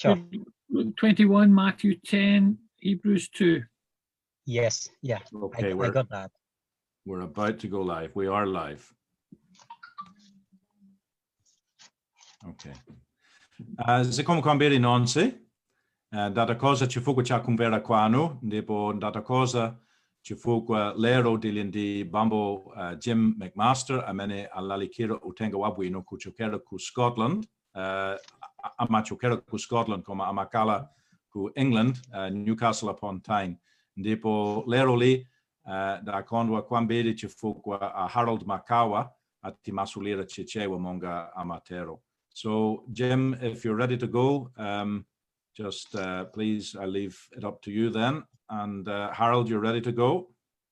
Sure. Luke 21, Matthew 10, Hebrews 2. Yes, yeah. Okay, I, I got that. We're about to go live. We are live. Okay. Uh, zikomo kwambiri nonse uh, ndathokoza chifukwa cha kumvera kwanu ndipo ndathokoza chifukwa lero tili ndi bambo uh, jim mcmaster amene alalikira uthenga wabwino kuchokera ku scotland uh, amachokera ku scotland koma amakala ku england uh, newcastle upon tyne ndipo lero li uh, dakondwa kwambiri chifukwa uh, harold makawa atimasulira chichewa monga amatero so jim if you're ready to go um, just uh, please i leave it up to you then and uh, harold you're ready to go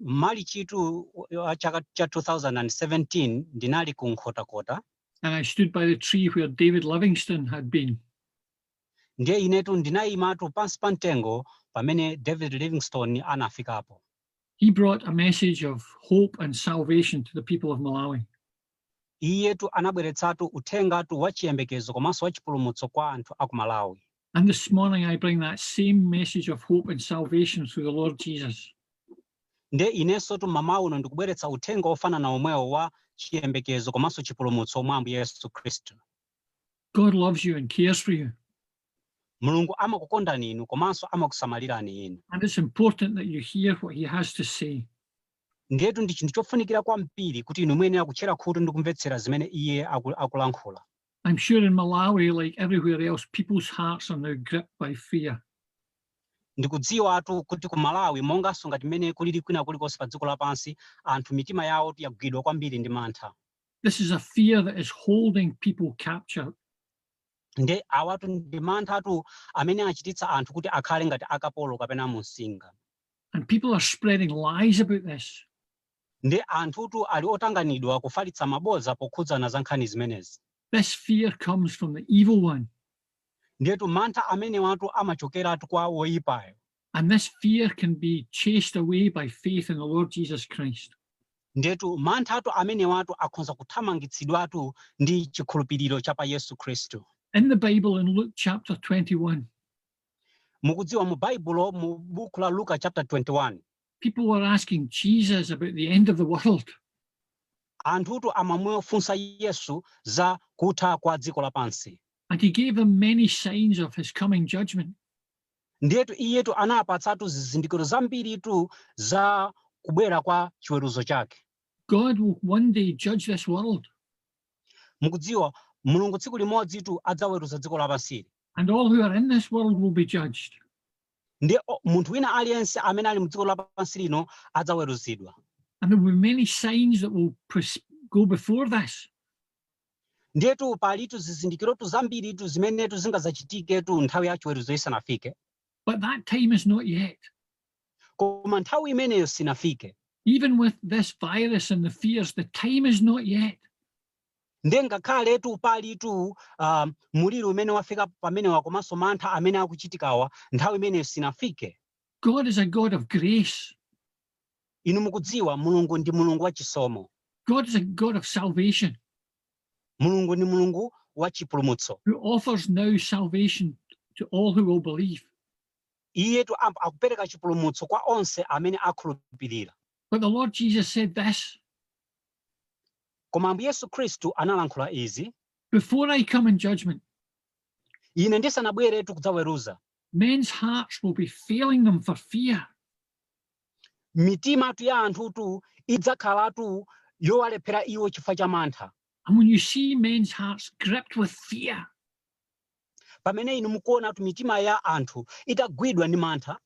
M'malichitu chaka cha 2017 ndinali ku Nkhotakota. And I stood by the tree where David Livingstone had been. Ndiye inetu ndinayimatu pansi pa mtengo pamene David Livingstone anafikapo. He brought a message of hope and salvation to the people of Malawi. Iyetu anabweretsatu uthengatu wa chiyembekezo komanso wa chipulumutso kwa anthu a ku Malawi. And this morning I bring that same message of hope and salvation through the Lord Jesus. Nde inensotu m'mawa uno ndikubweretsa uthenga wofanana womwewo wa chiyembekezo komanso chipulumutso mwa Ambuye Yesu Khristu. God loves you and cares for you. Mulungu amakukondani inu komanso amakusamalirani inu. And it's important that you hear what he has to say. Ndiyetu ndi chinthu chofunikira kwambiri kuti inu muyenera kutchera khutu ndi kumvetsera zimene iye akulankhula. I'm sure in Malawi, like everywhere else, people's hearts are now gripped by fear. ndikudziwatu kuti ku malawi monganso ngati mmene kulili kwina kulikonse pa dziko lapansi anthu mitima yawo yagwidwa kwambiri ndi mantha This is a fear that is holding people captured. nde awatu ndi manthatu amene achititsa anthu kuti akhale ngati akapolo kapena mumsinga And people are spreading lies about this. ndi anthutu ali otanganidwa kufalitsa mabodza pokhudzana za nkhani zimenezi This fear comes from the evil one. ndiyetu mantha amenewatu amachokeratu kwa woyipayo And this fear can be chased away by faith in the Lord Jesus Christ. ndiyetu manthatu amenewatu akhonza kuthamangitsidwatu ndi chikhulupiriro cha pa yesu khristu In the Bible, in Luke chapter 21, Mukudziwa, mu Baibulo, mu Buku la Luka chapter 21. People were asking Jesus about the end of the world. Anthutu amamufunsa Yesu za kutha kwa dziko lapansi. And he gave them many signs of his coming judgment. Ndiyetu iyetu anawapatsatu zizindikiro zambiritu za kubwera kwa chiweruzo chake. God will one day judge this world. Mukudziwa Mulungu tsiku limodzitu adzaweruza dziko lapansili. And all who are in this world will be judged. ndiye munthu wina aliyense amene ali mdziko lapansi lino adzaweruzidwa And there will be many signs that will pres- go before this. ndiyetu palitu zizindikirotu zambiritu zimenetu zingadzachitiketu nthawi ya chiweruzo isanafike But that time is not yet. koma nthawi imeneyo sinafike Even with this virus and the fears, the time is not yet. nde ngakhaletu palitu um, muliri umene wafika pamenewu komanso mantha amene akuchitikawa nthawi imeneyo sinafike God is a God of grace. inu mukudziwa mulungu ndi mulungu wa chisomo God is a God of salvation mulungu ndi mulungu wa chipulumutso who offers now salvation to all who will believe. iyetu am- akupereka chipulumutso kwa onse amene akhulupirira But the Lord Jesus said this Koma Ambuye Yesu Khristu analankhula izi. Before I come in judgment. Ine ndisanabweretu kudzaweruza. Men's hearts will be failing them for fear. Mitimatu ya anthutu idzakhalatu yowalephera iwo chifukwa cha mantha. And when you see men's hearts gripped with fear. Pamene inu mukuonatu mitima ya anthu itagwidwa ndi mantha.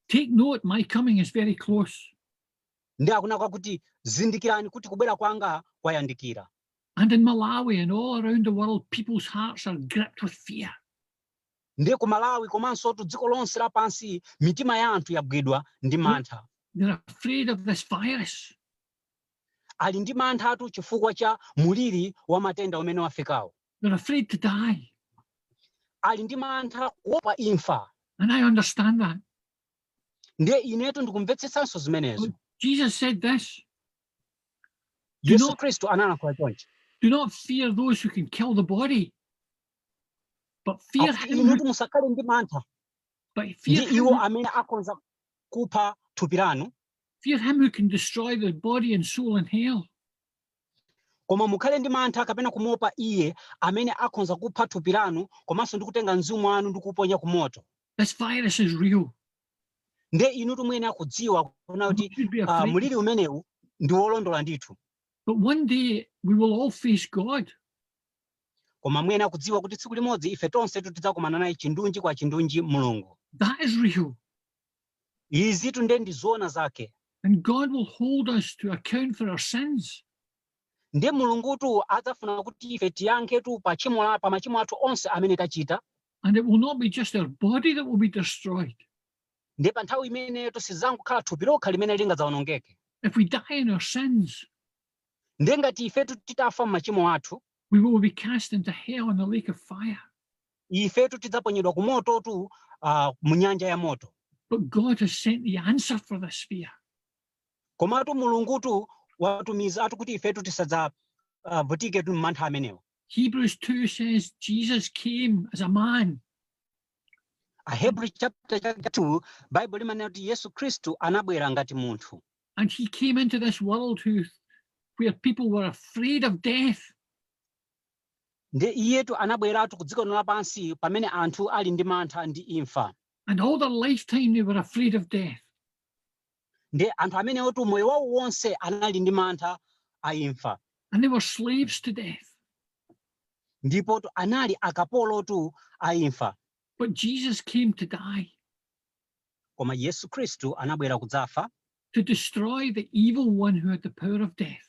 Take note, my coming is very close. Nde akunena kwakuti, Zindikirani kuti kubwera kwanga kwayandikira. And in Malawi and all around the world, people's hearts are gripped with fear. Nde ku Malawi komansotu dziko lonse lapansi mitima ya anthu yagwidwa ndi mantha. They're afraid of this virus. Ali ndi manthatu chifukwa cha muliri wa matenda umene wafikawo. They're afraid to die. Ali ndi mantha kuopa imfa. And I understand that. ndiye inetu ndikumvetsetsanso zimenezo Jesus said this. Do yesu not, khristu analankhula chonchi do not fear those who can kill the body, but fear Akuti him, who- inutu musakhale ndi mantha but ndi fear him, iwo who- amene akhonza kupha thupi lanu fear him who can destroy the body and soul in hell. koma mukhale ndi mantha kapena kumuopa iye amene akhonza kupha thupi lanu komanso ndi kutenga mzimu wanu ndi kuuponya ku moto This virus is real. nde inutu muyenera kudziwa kuna You kuti should be ah, afraid. muliri umenewu ndi wolondola ndithu But one day we will all face God. koma muyenera kudziwa kuti tsiku limodzi ife tonse tidzakumana naye chindunji kwa chindunji mulungu That is real. Izitu nde ndi zoona zake. And God will hold us to account for our sins. Nde Mulungutu adzafuna kuti ife tiyankhetu pa tchimo la pa machimo athu onse amene tachita. And it will not be just our body that will be destroyed. Nde pa nthawi imeneyotu sizangokhala thupi lokha limene lingadzawonongeke. If we die in our sins, Nde ngati ifetu titafa m'machimo athu, we will be cast into hell in the lake of fire. ifetu tidzaponyedwa ku mototu uh, mu nyanja ya moto But God has sent the answer for this fear. komatu mulungutu watumizatu kuti ifetu tisadzavutike uh, tu m'mantha amenewo Hebrews 2 says Jesus came as a man. Ahebrews chapter 2 Bible limanena kuti Yesu Kristu anabwera ngati munthu. And he came into this world who where people were afraid of death. Ndiye Iyetu anabweratu ku dziko lino lapansi pamene anthu ali ndi mantha ndi imfa. And all their lifetime they were afraid of death. Ndiye anthu amenewotu moyo wawo wonse anali ndi mantha a imfa. And they were slaves to death. Ndipotu anali akapolotu a imfa. But Jesus came to die. Koma Yesu Kristu anabwera kudzafa. To destroy the evil one who had the power of death.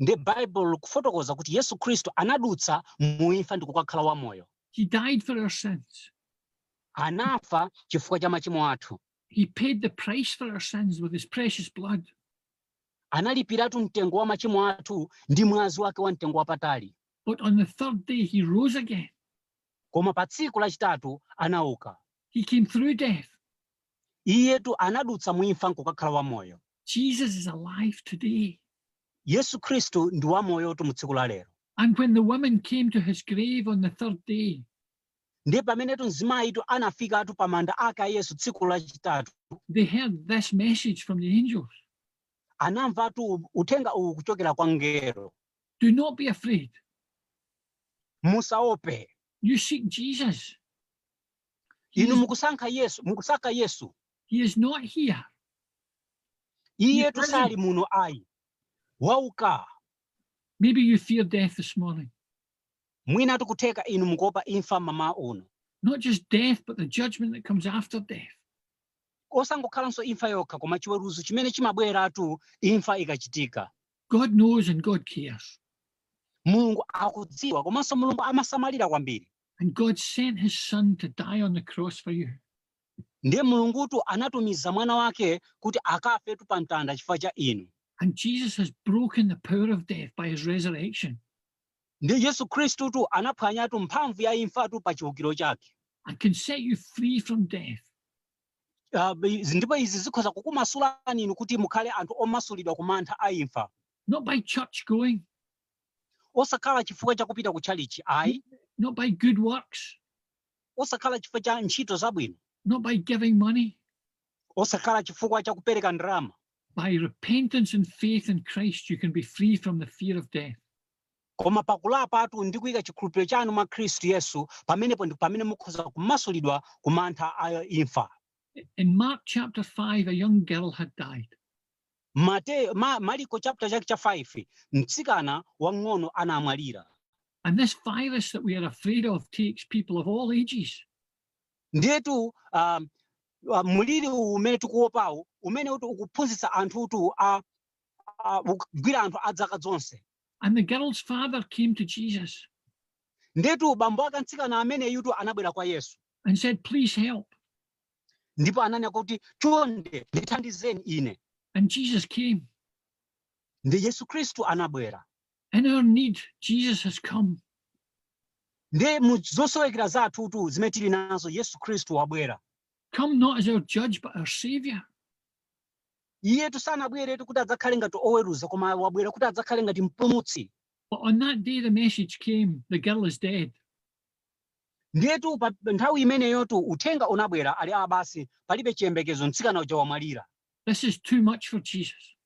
Ndiye bible likufotokoza kuti Yesu Khristu anadutsa mu imfa ndikukakhala wa moyo. He died for our sins. Anafa chifukwa cha machimo athu. He paid the price for our sins with his precious blood. Analipiratu mtengo wa machimo athu ndi mwazi wake wa mtengo wapatali. But on the third day he rose again. Koma pa tsiku lachitatu anauka. He came through death. Iyetu anadutsa mu imfa nkukakhala wa moyo. Jesus is alive today. Yesu Kristu ndi wamoyotu mu tsiku la lero. And when the woman came to his grave on the third day, ndiye pamenetu mzimayitu anafikatu pa manda ake a Yesu tsiku lachitatu. They heard this message from the angels. Anamvatu uthenga uwu kuchokera kwa mngelo. Do not be afraid. Musaope. You seek Jesus. Inu mukusankha Yesu, mukusaka Yesu. He is not here. Because- iyetu sali muno ayi wauka Maybe you fear death this morning. mwinatu kutheka inu mukuopa imfa mmawa uno Not just death, but the judgment that comes after death. osangokhalanso imfa yokha koma chiweruzo chimene chimabweratu imfa ikachitika God knows and God cares. mulungu akudziwa komanso mulungu amasamalira kwambiri And God sent his son to die on the cross for you. Ndiye Mulungutu anatumiza Mwana Wake kuti akafetu pa mtanda chifukwa cha inu. And Jesus has broken the power of death by his resurrection. Ndiye Yesu Khristutu anaphwanyatu mphamvu ya imfatu pa chiukiro chake. And can set you free from death. Uh, ndipo izi zikhoza kukumasulani inu kuti mukhale anthu omasulidwa ku mantha a imfa. Not by church going. Osakhala chifukwa cha kupita ku tchalitchi ayi. Not by good works. osakhala chifukwa cha ntchito zabwino not by giving money osakhala chifukwa cha kupereka ndalama by repentance and faith in christ you can be free from the fear of death koma pakulapatu ndi kuyika chikhulupiriro chanu mwa khristu yesu pamenepo ndi pamene mukhoza kumasulidwa ku mantha a imfa in mark chapter 5 a young girl had died Maliko chapter chake cha 5 mtsikana wang'ono anamwalira And this virus that we are afraid of takes people of all ages. ndiyetu um, uh, mliri uwu umene tikuwopawu umene uti ukuphunzitsa anthu utu a a- ukugwira anthu a dzaka zonse And the girl's father came to Jesus ndiyetu bambo ake mtsikana ameneyutu anabwera kwa yesu and said, Please help. ndipo ananena kuti chonde ndithandizeni ine And Jesus came. ndi yesu khristu anabwera In our need, Jesus has come. ndi mu zosowekera zathutu zimene tili nazo yesu khristu wabwera Come not as our judge, but our savior. iyetu sanabweretu kuti adzakhale ngati oweruza koma wabwera kuti adzakhale ngati mpulumutsi But on that day the message came, the girl is dead. Ndiyetu pa nthawi imeneyotu uthenga unabwera ali a basi palibe chiyembekezo mtsikana uja wamwalira. This is too much for Jesus.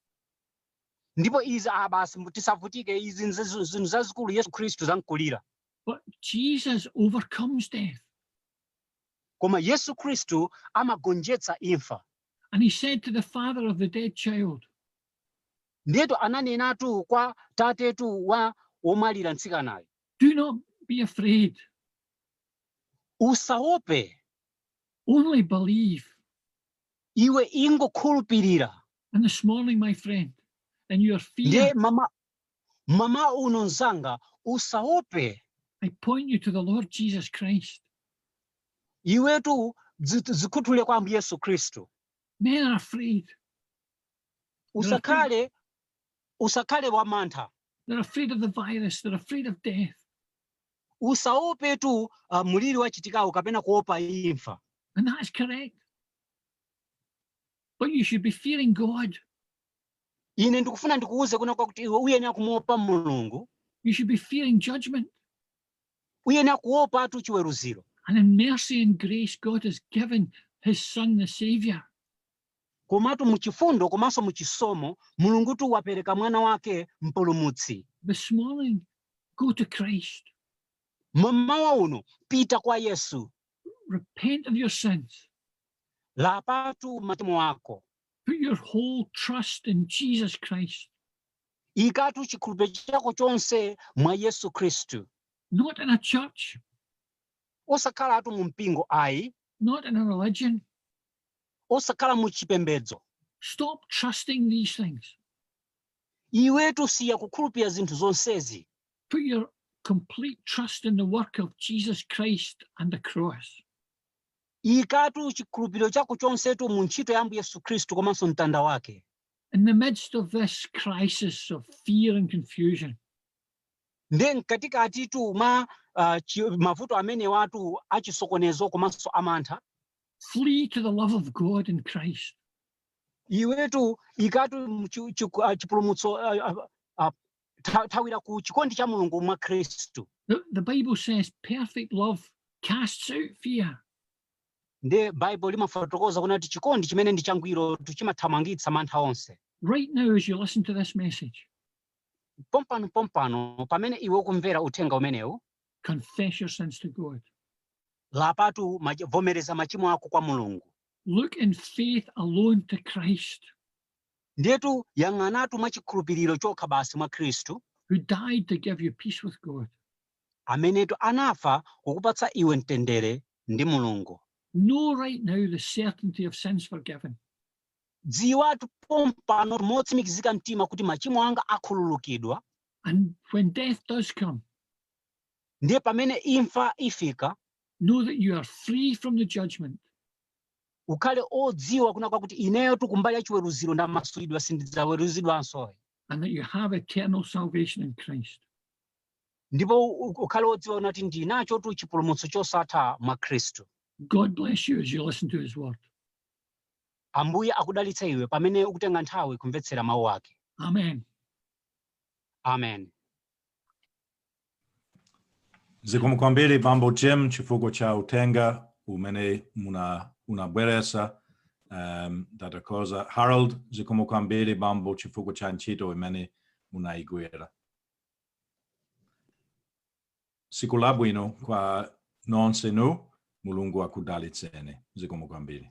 Ndipo izi a basi mbu- tisavutike izi nzi- zi- zinthu zazikulu Yesu Khristu zamkulira. But Jesus overcomes death. Koma Yesu Khristu amagonjetsa imfa. And he said to the father of the dead child, Ndiyetu ananenatu kwa tatetu wa womwalira mtsikanayo. Do not be afraid. Usaope. Only believe. Iwe ingokhulupirira. And this morning, my friend, and your fear. mama, mama uno nzanga, usaope. I point you to the Lord Jesus Christ. Iwetu zikhuthule kwa Ambuye Yesu Kristu. Men are afraid. Usakhale usakhale wamantha They're afraid of the virus. They're afraid of death. usaopetu uh, mliri wachitikawu kapena kuopa imfa And that's correct. But you should be fearing God. ine ndikufuna ndikuwuze kunena kwakuti iwe uyenera kumuopa mulungu You should be fearing judgment. uyenera kuopatu chiweruziro And in mercy and grace, God has given his son, the Savior. Komatu mu chifundo komanso mu chisomo, Mulungutu wapereka Mwana wake Mpulumutsi. This morning, go to Christ. Mmawa uno, pita kwa Yesu. Repent of your sins. Lapatu machimo ako. Put your whole trust in Jesus Christ. Ikatu chikhulupiriro chako chonse mwa Yesu Kristu. Not in a church. Osakhalatu mu mpingo ayi. Not in a religion. osakhala mu chipembedzo Stop trusting these things. iwetu siya kukhulupirira zinthu zonsezi Put your complete trust in the work of Jesus Christ and the cross. ikatu chikhulupiriro chako chonsetu mu ntchito ya ambuye yesu khristu komanso mtanda wake. In the midst of this crisis of fear and confusion, nde mkatikatitu mwa uh, chi, mavuto amenewatu achisokonezo komanso amantha Flee to the love of God in Christ. iwetu ikatu mchu- chiku- ah, chipulumutso ah, ah, ah, tha- thawira ku chikondi cha mulungu mwa khristu The, the Bible says perfect love casts out fear. nde baibulo limafotokoza kunena kuti chikondi chimene ndi changwirotu chimathamangitsa mantha onse Right now, as you listen to this message, pompano pompano pamene iwe ukumvera uthenga umenewu Confess your sins to God. Lapatu mach- vomereza machimo ako kwa Mulungu. Look in faith alone to Christ, Ndiyetu yang'anatu mwa chikhulupiriro chokha basi mwa Khristu, who died to give you peace with God. amenetu anafa kukupatsa iwe mtendere ndi Mulungu. Know right now the certainty of sins forgiven. Dziwatu pompanotu motsimikizika mtima kuti machimo anga akhululukidwa. And when death does come, ndiye pamene imfa ifika know that you are free from the judgment. ukhale odziwa kunena kwakuti ineyotu kumbali ya chiweruziro ndamasulidwa sindidzaweruzidwanso And that you have eternal salvation in Christ. ndipo u- u- ukhale odziwa kunena kuti ndi nachotu chipulumutso chosatha mwa khristu God bless you as you listen to his word. ambuye akudalitse iwe pamene ukutenga nthawi kumvetsera mawu ake Amen. Amen. Zikomo kwambiri bambo Jim chifukwa cha uthenga umene muna unabweresa um, tathokoza Harold zikomo kwambiri bambo chifukwa cha ntchito imene munaigwira tsiku labwino kwa nonsenu mulungu akudalitseni zikomo kwambiri